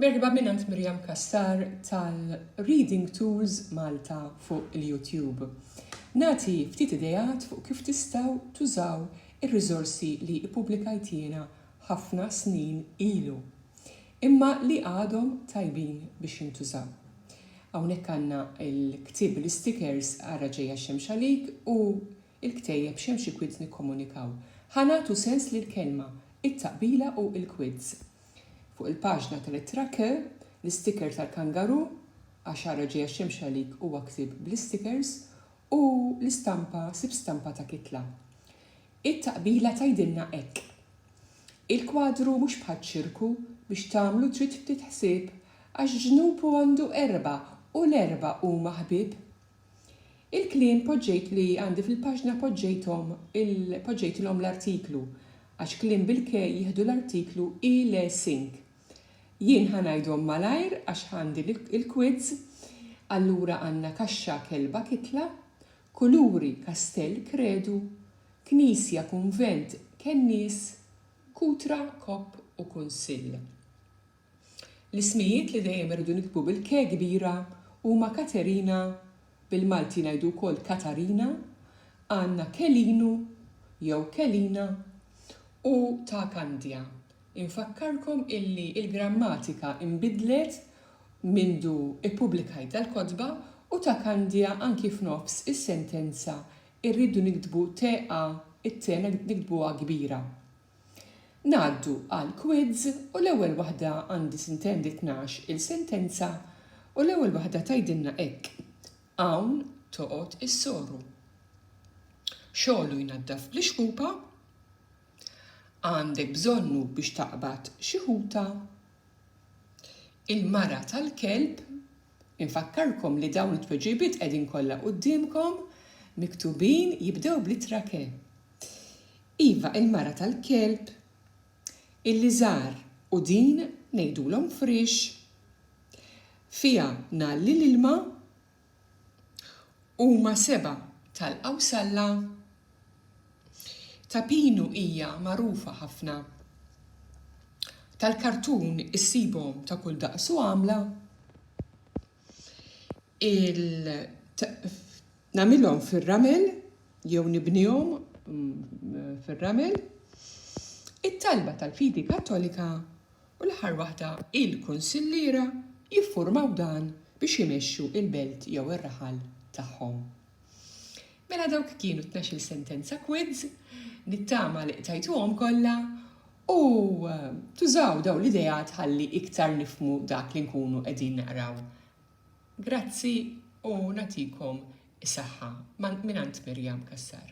Merħba minant Miriam Cassar tal Reading Tools Malta fuq il YouTube. Nagħti ftit ideat fuq kif tistgħu tużaw ir riżorsi li ippubblikajt jiena ħafna snin ilu imma li għadhom tajbin biex jintużaw. Hawnhekk għandna il ktieb bil istikers Ara ġejja x-xemx għalik u Il-ktejjeb x'hemm xi kwids nikkomunikaw. Ħa nagħtu sens lill-kelma, it-taqbila u l-kwids. Fuq il-paġna tal-ittra K, l-istiker tal-kangaroo, Għax ara ġejja x-xemx għalik huwa ktieb bl-istikers, u l-istampa Sib stampa ta' kitla. It-taqbila tgħidilna hekk, Il-kwadru mhux bħaċ-ċirku, biex tagħmlu trid ftit ħsieb, għax ġnupu għandu erbgħa u l-erbgħa huma ħbieb. Il-kliem poġġejt li għandi fil-paġna poġġejthom il poġġejtilhom l-artiklu għax kliem bil-ke jieħdu l-artiklu i le sink. Jien ħa ngħidhom malajr għax għandi l-quids, allura għandna kaxxa kelba kitla, kuluri kastell kredu, knisja kunvent kennies, kutra kopp u kunsill. L-ismijiet li dejjem irridu niktbu bil-K kbira huma Katerina, bil-Malti ngħidu wkoll Katarina, għandna Kelinu jew Kelina u ta' Kandja. Infakkarkom illi l-grammatika inbidlet mindu ppubblikajt dal-kotba u ta' Kandja anki f'nofs is-sentenza rridu niktbu TH it-T niktbuha kbira. Ngħaddu għal quiz u l-ewwel waħda għandi sintendi tnax il sentenza u l-ewwel waħda tgħidilna hekk, Hawn toqgħod is-soru. Xogħlu jnaddaf bl-ixkupa. Għandek bżonnu biex taqbad xi ħuta. Il-mara tal-kelb Infakkarkom li dawn it-tweġibiet qegħdin kollha quddiemkom miktubin jibdew bl-ittra ke. Iva, il-mara tal-kelb, il-liżar u din ngħidulhom friex, fiha ngħalli l-ilma, huma sebgħa tal-qawsalla, ta' pinu hija magħrufa ħafna, tal-kartun issibhom ta' kull daqs u għamla. Nagħmilhom fir-ramel jew nibnihom fir-ramel, it-talba tal-fidi Kattolika u l-aħħar waħda il-kunsilliera jiffurmaw dan biex imexxu l-belt jew ir-raħal tagħhom. Mela dawk kienu t-tnax-il sentenza quids, nittama li qtajtuhom kollha, U tużaw dawn l-ideat ħalli iktar nifhmu dak li nkunu qegħdin naqraw. Grazzi u nagħtikom is-saħħa. Mingħand Miriam Cassar.